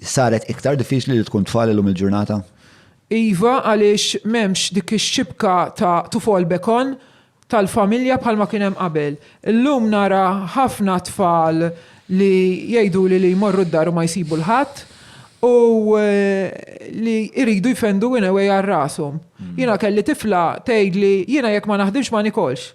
Saret iktar diffiċli li tkun tfal illum il-ġurnata? Iva, għaliex m'hemmx dik ix-xibka ta' tufol bekon tal-familja bħalma kien hemm qabel. Illum nara ħafna tfal li jgħiduli li jmorru d-dar u ma jsibu 'l ħadd u li jridu jfendu in a way għal rashom. Jiena kelli tifla tgħidli jiena jekk ma naħdimx ma nikolx.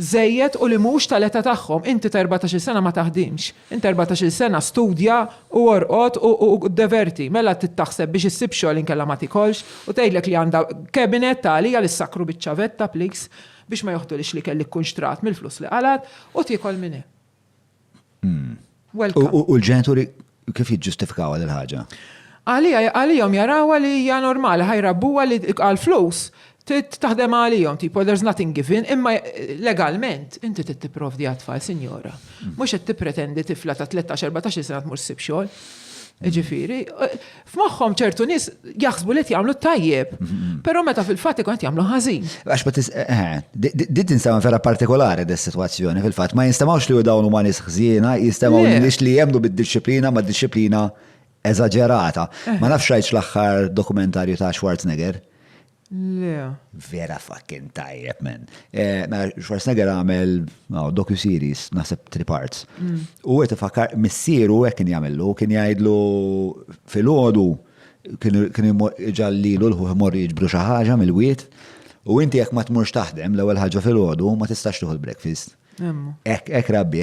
żejjed u li mhux tal-età tagħhom. Inti ta' erbatax-il sena ma taħdimx. Int ta' erbatax-il sena studja u orqod u ddeverti. Mela trid taħseb biex issib xogħol inkella ma tikolx. U tgħidlek li għandha cabinet ta' għalija li ssakkru biċ-ċavetta please biex ma joħdulhiex l-ikel li tkun xtrat mill-flus li qalgħet u tiekol minn hemm. U l-ġenituri kif jiġġustifikaw għal il-ħaġa? Għalijom jarawa li hija normali, ħajrabbuha li għal flus taħdem għalijom, tipo there's nothing given, imma legalment inti trid tipprovdi għat-tfal, sinjora. Mhux qed tippretendi tifla ta' 13-14 sena tmur ssib xogħol. Ġifieri, F'moħħhom ċertu nies jaħsbu li qed jagħmlu tajjeb, però meta fil-fatt ikun qed jagħmlu ħażin. Għax ma tis eh, eh, di- di tinstema vera partikolari dis situazzjoni fil-fatt. Ma jinstemawx li dawn huma nies ħżiena, jinstemaw Le. nies li jemnu bid-disciplina ma disciplina eżaġerata. Ma nafx rajtx l-aħħar dokumentarju ta' Schwarzenegger. Le. Vera fucking tajjeb, man. Eh, mela, Schwarzenegger għamel oh, docu-series, naħseb three parts. Mm. U għet fakar, missieru għek kien jgħamillu, kien jgħidlu fil-ħodu, kien ġallilu l-ħuħ morri jġbru xaħġa mill-wiet, u inti jek ma tmurx taħdem l-ewel ħagġa fil-ħodu, ma tistax tuħu l-breakfast. Ek, ek rabbi,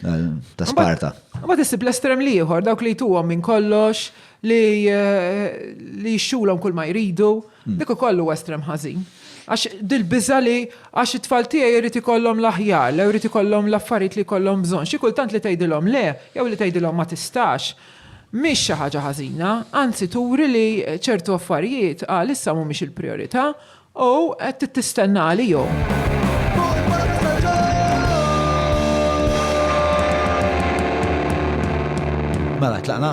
ta' Sparta. Ma tisib l-estrem liħor, dawk li jtuhom minn kollox, li eh, xxulhom kull ma jridu, hmm. dik ukoll huwa estrem ħażin. Għax dil-biża li għax it-tfal tiegħi jrid ikollhom l-aħjar, lew jrid ikollhom l-affarijiet li jkollhom bżonn. Xi kultant li tgħidilhom le, jew li tgħidilhom ma tistax. Mhix xi ħaġa ħażina, anzi turi li ċertu affarijiet għal issa mhumiex il-priorità O, qed tittistenna għalihom. Mela, tlaqna?